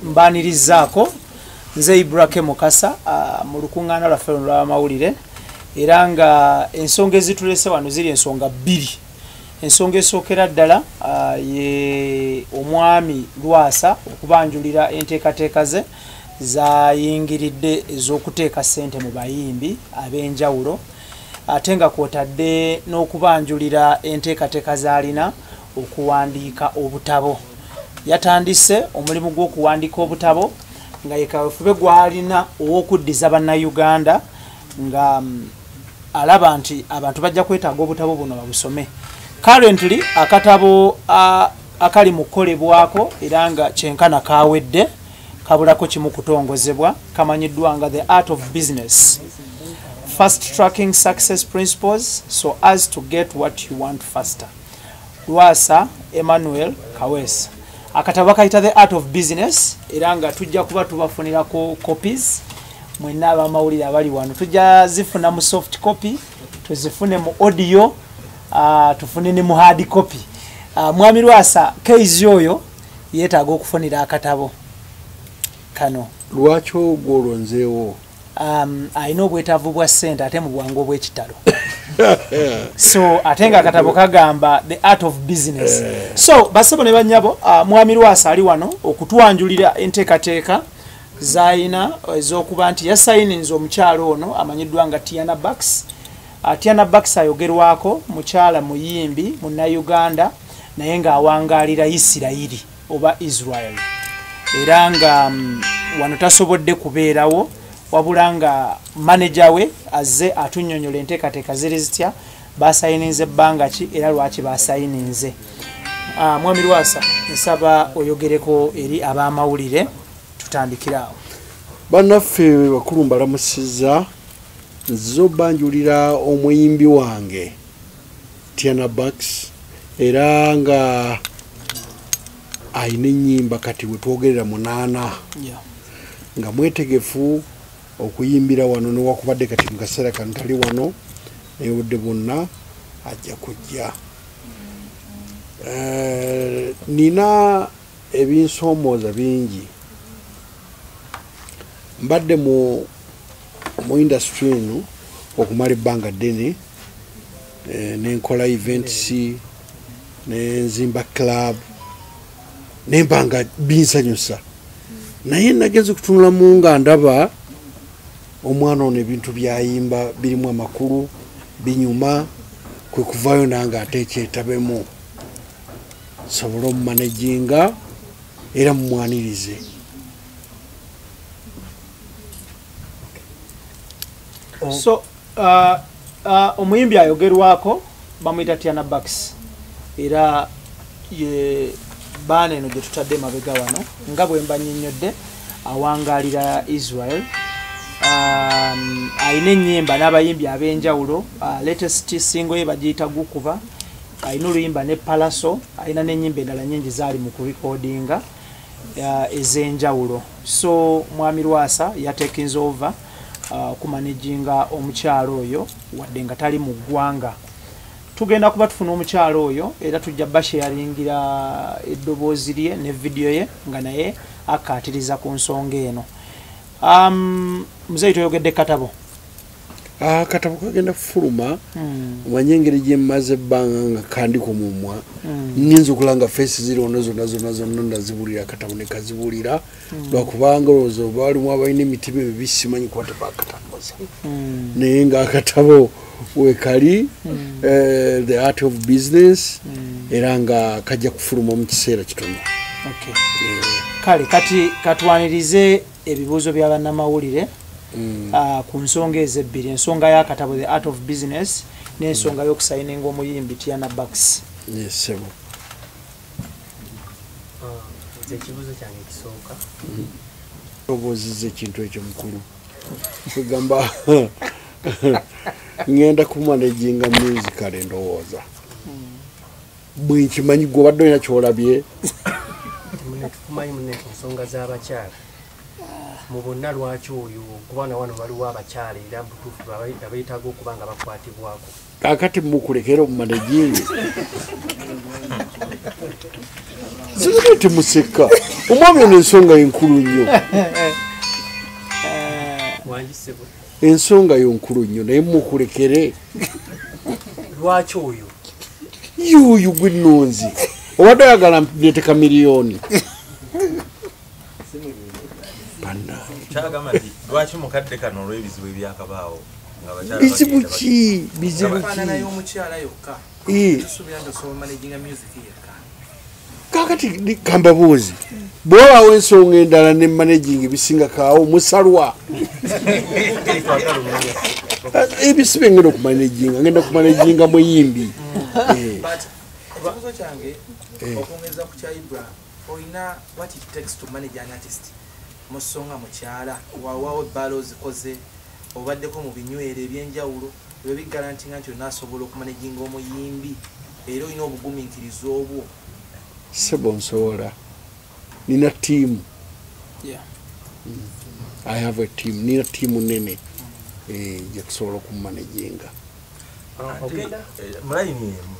mbanirizaako nze ibrake mukasa ah, mu lukuŋŋaana lwaffe luno lw'amawulire era nga ensonga ezitulese wano ziri ensonga bbiri ensonga esookera ddala ah, ye omwami lwasa okubanjulira enteekateeka ze zayingiridde ez'okuteeka ssente mu bayimbi ab'enjawulo ate nga kwotadde n'okubanjulira enteekateeka z'alina okuwandiika obutabo yatandise omulimu gw'okuwandiika obutabo nga yekawefube gwalina ow'okuddiza bannayuganda nga mm, alaba nti abantu bajja kwetaaga obutabo buno babusome currently akatabo akali mu kukolebwako era nga kyenkana kawedde kabulako kimu kutongozebwa kamanyiddwa nga the art of business fast tracking success principles so as to get what you want faster lwasa emmanuel kawesa akatabo bakayita the art of business era nga tujja kuba tubafunirako copies mwena abamawulire abali wano tujja zifuna mu soft copy tuzifune mu audio uh, tufune ne mu hard copy uh, mwami lwasa keizi oyo yetaaga okufunira akatabo kano lwaki ogwo olonzeewo um, alina obwetaavu bwa ssente ate mu bwangu obw'ekitalo so ate nga akatabo kagamba the art of business eh. so basebo ne banyabo uh, mwami lwasa ali wano okutwanjulira enteekateeka zaalina ez'okuba nti yasayininza omukyalo ono amanyiddwa nga tiana baks Atiana Bakisa ayogerwako mukyala muyimbi munnayuganda naye ng'awangaalira Isirayiri oba Israel era nga mm, wano tasobodde kubeerawo wabula nga maneja we azze atunyonyola enteekateeka ziri zitya basayininze ebbanga ki era lwaki basayininze ah, mwami lwasa nsaba oyogereko eri ab'amawulire tutandikiraawo bannaffe bakulu mbalamusiza nzize obanjulira omuyimbi wange tiana bax era nga alina enyimba kati wetwogerera munaana nga mwetegefu okuyimbira wano newakubadde kati mukaseera kano tali wano naye obudde bwonna ajja kujja eh, nina ebinsomooza bingi mbadde mu mu industry eno okumala ebbanga ddene eh, nenkola events nenzimba club nembanga binsanyusa naye nagezi kutunulamu nga ndaba omwana ono ebintu byayimba birimu amakulu binyuma kwekuvayo nange ate ekyetabemu sobole omumanejinga era mumwanirize oh. so uh, uh, omuyimbi ayogerwako bamuyita tiana bax era ye baana eno gye tutadde emabega wano nga bwe mbanyinyodde awangalira israel um, alina enyimba n'abayimbi ab'enjawulo uh, latest singo ye bagiyita gukuba alina oluyimba ne palaso alina n'enyimba endala nyingi zaali mu kurikodinga uh, ezenjawulo so mwami lwasa yatekinze over uh, kumanejinga omukyalo oyo wadde nga tali mu ggwanga tugenda kuba tufuna omukyalo oyo era tujja basheyaringira eddoboozi lye ne vidiyo ye nga naye akkaatiriza ku nsonga eno um, muzeeyi toyogedde katabo akatabo ah, kagenda kufuluma hmm. omanye engeri gyemaze ebbanga nga kandi ku mumwa hmm. nyinza okula nga feesi ziri ono zonna zonna zonna nazibuulira akatabo ne kazibuulira hmm. lwakubanga olowooza oba walimu abalina emitima emibi simanyi kuba tebakatambuza naye nga akatabo wekali eh, the art of business era nga kajja kufuluma mu kiseera kitono kale kati katwanirize ebibuuzo bya bannamawulire mm. ah, ku nsonga ezo ebbiri ensonga y'akatabo the art of business n'ensonga mm. y'okusayininga omuyimbi tiana baks yesebo ah, ekibuuzo kyange kisooka mm. obooziza ekintu ekyo mukulu egamba ŋenda kumanejinga musicale ndowooza bwe nkimanyi gwe obadde olina kyolabye tukumanyi mune ku nsonga z'abakyala mu bonna lwaki oyo kuba na wano waliwo abakyala era mubutuufu abeetaaga okuba nga bakwatibwako kakati mukulekera omumanejingi zibona ti museka omwami ono ensonga enkulu nnyo ensonga yo nkulu nnyo naye mukulekere lwaki oyo yuuyu gwenonzi obadde oyagala neteka miliyoni bizibu ki bizibu ki kakati kambabuuzi bwewaawo ensonga endala ne managing ebisinga kaawo musalwa ebisiba eh, ngenda okumanajinga ngenda kumanajinga muyimbi eh. eh. okwongeza ku kya ibrahim olina wat it takes to manage an artist musonga mukyala wawawo ebbala ozikoze obaddeko mu binywero ebyenjawulo ebyo bigalantinga nti olina asobola okumanejinga omuyimbi era olina obuguminkiriza obwo sebo nsobola nina tiimu i have a team nina tiimu nene eh, gyetusobola okumanejinga ah, eh, mulayini emu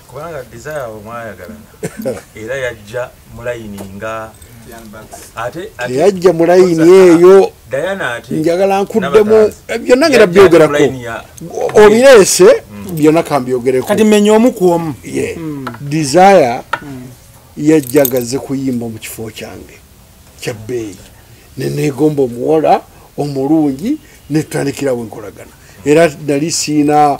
kubanga desire abo mwayagalana era yajja mulayini nga teyajja mulayini eyo njagala nkuddemu byonna ngera byogerako obireese mm. byonna kambyogerekokati menya omu ku omu mm. desire mm. yajjagaze kuyimba mu kifo kyange kyabbeeyi neneegomba omuwala omulungi netutandikirawo enkolagana era nali siina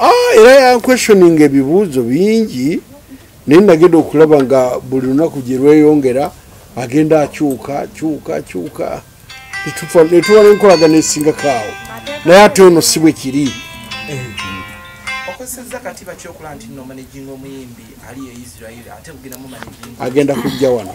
Ah, era yanquestioning ebibuuzo bingi naye nagenda okulaba nga buli lunaku gye lweyongera agenda akyuka kyuka kyuka netuwa nenkolagana esingako awo naye ate ono si bwe kiri agenda kujja wano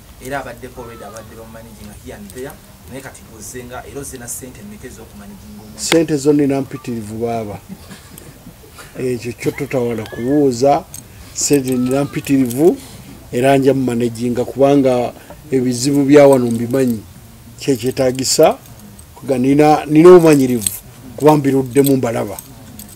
era abaddeko olweda abadde bamumaniginga here and there naye kati gozze nga era ozze na ssente mmeka ez'okumaniginga omu ssente zo nina mpitirivu baaba ekyo kyo totawala kubuuza ssente nina mpitirivu era nja mumanaginga kubanga ebizibu byawano mbimanyi kyekyetagisa kuga nina omumanyirivu kuba mbiruddemu mbalaba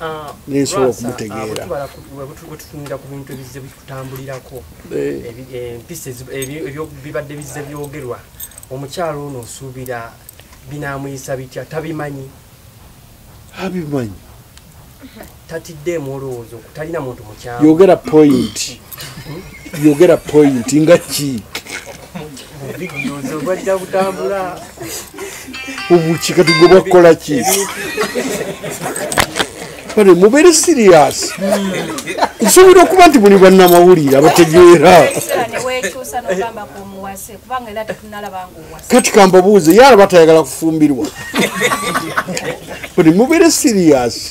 Ah, nensobola okumutegeera ah, wetutunira ku bintu ebizze bikutambulirako eh. eh, empisa bibadde bizze byogerwa omukyalo ono osuubira binamuyisa bitya tabimanyi abimanyi tatiddeemu olowooza okutalina muntu mukyalo yogera point yogera point nga ki obuki kati gwe bakukola ki bane mubeere siriyasi nsuubira okuba nti muli bannamawulire abategeera kati kambabuuze yalaba tayagala kufumbirwa bane mubeere siriyasi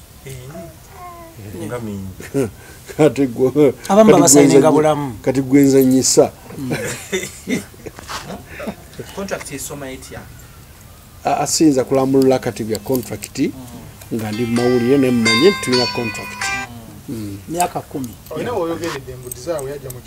kati gwenzanyisa asinza kulambulula kati bya contract mm. nga ndi mumawulire nemumanye tulina contract mm. Mm. myaka kumi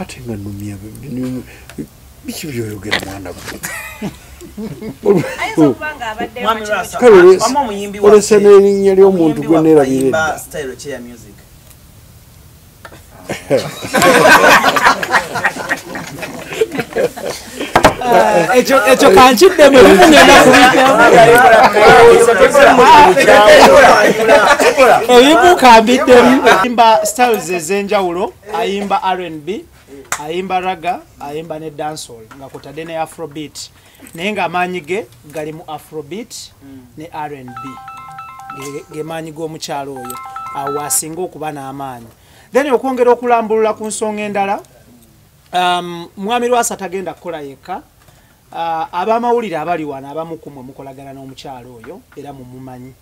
ate nga numya biki byoyogera mwana olesa n'erinnya ly'omuntu gwe nerabira edda ekyo kankiddemu ebimugenda kubiemu kambiddemu imba styles ez'enjawulo ayimba rnb ayimba raga ayimba ne dancehall nga kutadde ne afrobeat naye ng'amaanyi ge gali mu afrobeat ne rnb gemaanyi g'omukyalo oyo awo asinga okuba n'amaanyi then okwongera okulambulula ku nsonga endala um, mwami lwasa tagenda kukola yekka uh, abamawulire abali wano abamukumwe mukolagana n'omukyalo oyo era mumumanyi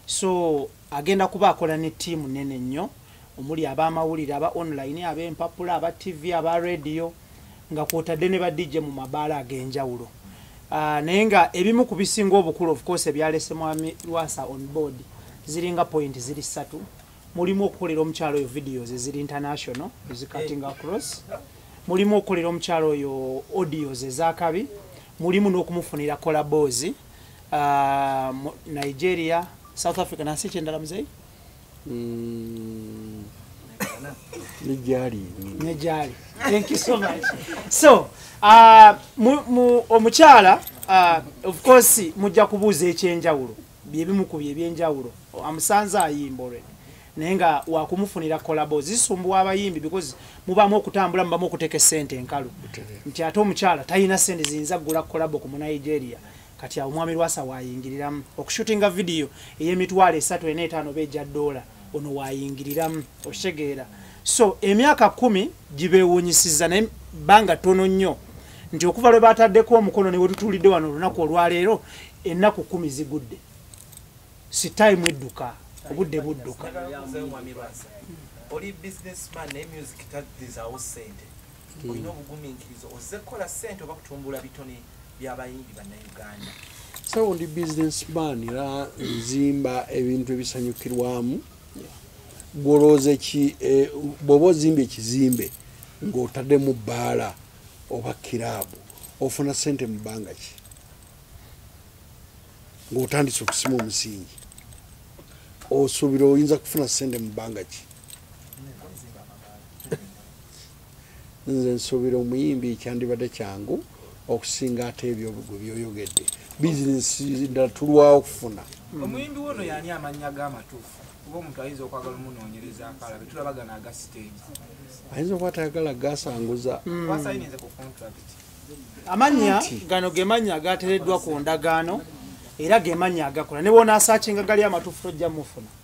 so agenda kuba akola ne tiimu nene nnyo omuli ab'amawulire aba online ab'empapula aba ttivi aba rediyo nga kwotadde ne badijje mu mabaala ag'enjawulo ah, naye nga ebimu ku bisinga obukulu ofcourse ebyalese mwami lwasa on board ziringa point ziri ssatu mulimu okukolera omukyalo oyo videos eziri international ezicutting eh. across mulimu okukolera omukyalo oyo audios ezakabi mulimu n'okumufunira kolaboozi ah, nigeria south africa nansi ekyendala muzeyi Mm. ne gyali ne gyali thank you so much so uh, mu, mu, omukyala uh, of course mujja kubuuza ekyenjawulo byebimu ku byebyenjawulo amusanze ayimba already naye nga wakumufunira kolabo zisumbuwa abayimbi because mubamu okutambula mubamu okuteka esente enkalu nti ate omukyala talina sente ziyinza kugula kolabo ku munigeria kati awo mwami lwasa wayingiriramu okushutinga vidiyo eyemitwalo esatu ena etaano oba egya doola ono wayingiriramu okitegeera so emyaka kumi gibewunyisiza naye banga tono nnyo nti okuva lwe bataddeko omukono newetutulidde wano olunaku olwaleero ennaku kumi zigudde sitaimu edduka obudde budduka oli businessman ne music taddizawo sente olina obuguminkiriza ozze kukola sente oba kutumbula bitone byabayimbi bannayuganda sawo ndi business man era nzimba ebintu ebisanyukirwamu gwolowooza ki eh, bwoba ozimba ekizimbe ng'otaddemu bbaala oba kiraabu ofuna sente mu bbanga ki ng'otandise okusima omusingi osuubira oyinza kufuna sente mu bbanga ki nze nsuubira omuyimbi kyandibadde kyangu okusinga ate ebyo gwe byoyogedde bizinesi ddala tulwawo okufuna omuyimbi wono yani amannya g'amatuufu kuba omuntu ayinza okwagala omunoonyereza akalabe tulabagana aga siteegi ayinza okuba tayagala gasanguza hmm. wasayinize ku contract amannya gano gemannya agatereddwa ku ndagaano era gemannya agakola ne bwonaasaakinga gali amatuufu tojja mufuna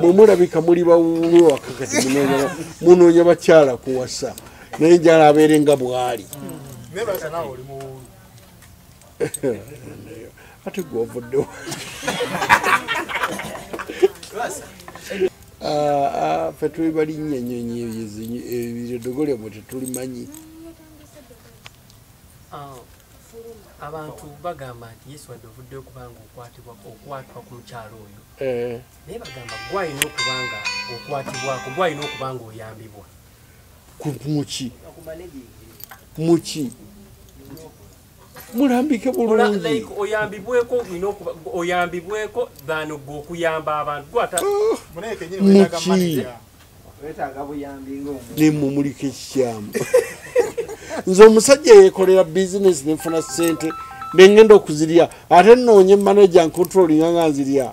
mwemulabika muli bawuulu wakakati munoonya bakyala kuwasa naye njala abeere nga bwali ate gwovuddewo ah, ah, fe tuli balinnya nyonyi ebyo ebiredogolya mwe tetulimanyi abantu bagamba nti yesu wadde ovudde okubanga okwatibwa okwatwa ku mukyalo oyo eh. naye bagamba gwalina okubanga okwatibwako gwalina okubanga oyambibwa muki muki mulambike bulungioyambibweko oyambibweko than gwe okuyamba abantu gwatamuki oh. nemumuliko ekikyamu nze omusajja yekolera bizinesi nenfuna sente nengenda okuzirya ate noonye manaja ncontrolinga nga nzirya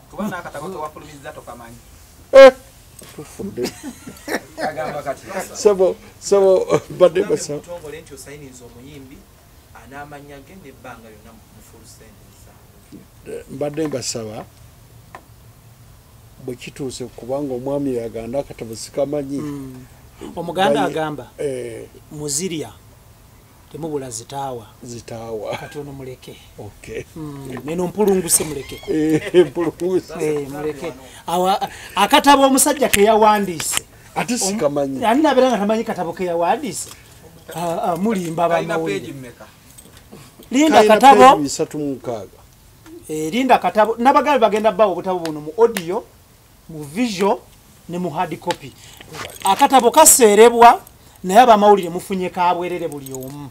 eh, tufudde sebo sebo badde basaba anamanyage nebbanga yona mufulsente zaabwe mbadde mbasaba bwekituuse kubanga omwami yaganda akatabo sikamanyi mm. omuganda agamba eh. muzirya temubula zitaawa zitaawa kati ono muleke mm, neno mpulunguse muleke eh, eh, muleke akatabo omusajja keyawandiise ate sikamanyi ani nabeera nga tamanyi katabo keyawandiise Ah, ah, mulimba bamawulire linda katabo eh, linda katabo nabagambi bagenda bawa obutabo buno mu audio mu visual ne mu hard copy akatabo kaseerebwa naye abamawulire mufunye kabwerere buli omu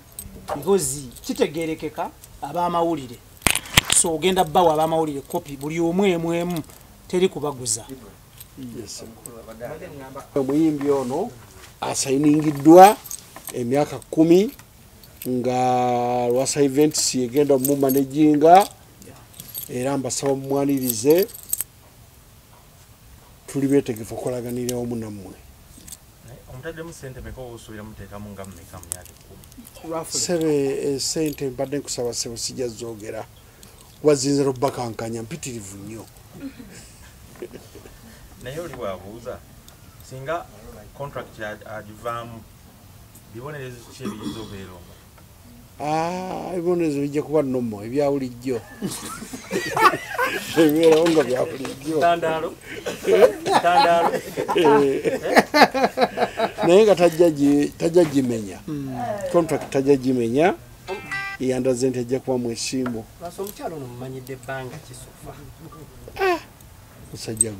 because kitegerekeka abamawulire so ogenda bawa abamawulire copy buli omu emu emu teri kubaguza omuyimbi ono asayiningiddwa emyaka kumi nga lwasa events egenda omumanejinga era mbasaba mumwanirize tuli betegefu okolaganira omu nammwe sebe esente eh, mbadde nkusaba sebo sijja zogera kuba zinza nokubakankanya mpitirivu nnyo naye oli wabuuza singa contract agivaamu bibonerezo ki ebiyinza obeera omu ah, ebibonerezo bijja kuba nomo ebyawulijjo ebibeerawo nga byabulijjo naye nga tajja gimenya hmm. contract tajja gimenya yandaze nti ajja kuba mwesimbu musajja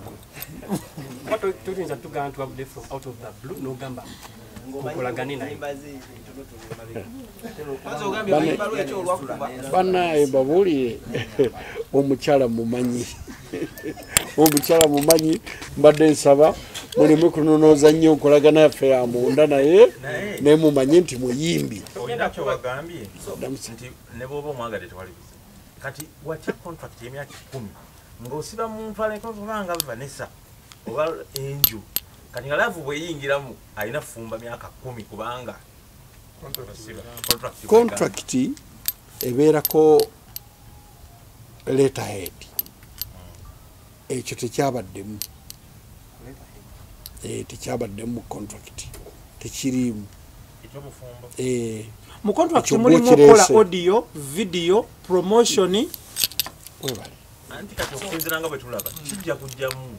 ggwebanaye babuulire omukyala mumanyi omukyala mumanyi mbadde nsaba muleme kunonooza nnyo nkolagana yaffe ya munda naye naye mumanye nti muyimbi ngaosiba muntu alekobanga nesa oba enju kati nga laavu bweyingiramu alina fumba myaka kumi kubanga kontrakiti ebeerako letterhead ekyo tekyabaddemu eh, tekyabaddemu mu contract tekiriimu eh, mu contract mulimu okola audio video promotion webale anti kati okusinzira nga bwetulaba kijja kujjamu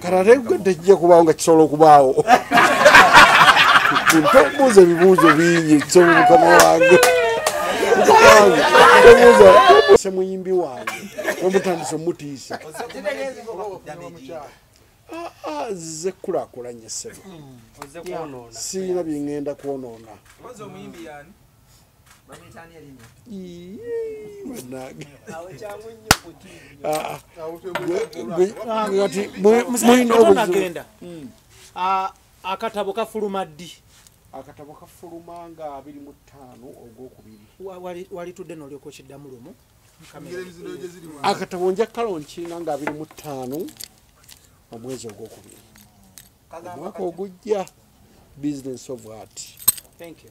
katategwe tekijja kubaawo nga kisobola okubaawo tobuuza ebibuuzo bingi kisobola mukama wange se muyimbi wange omutandisa omutiisa ah, ah, ze kulakulanya sebo siyina byengenda kwonoona mulinagenda hmm. akatabo kafuluma ddi akatabo kafuluma nga abiri mu ttaano ogwokubiri walitudde nolyoka okiddamu lumu akatabo nja kalonkina nga abiri mu ttaano omwezi ogwokubiri omwaka ogujja business of art Thank you.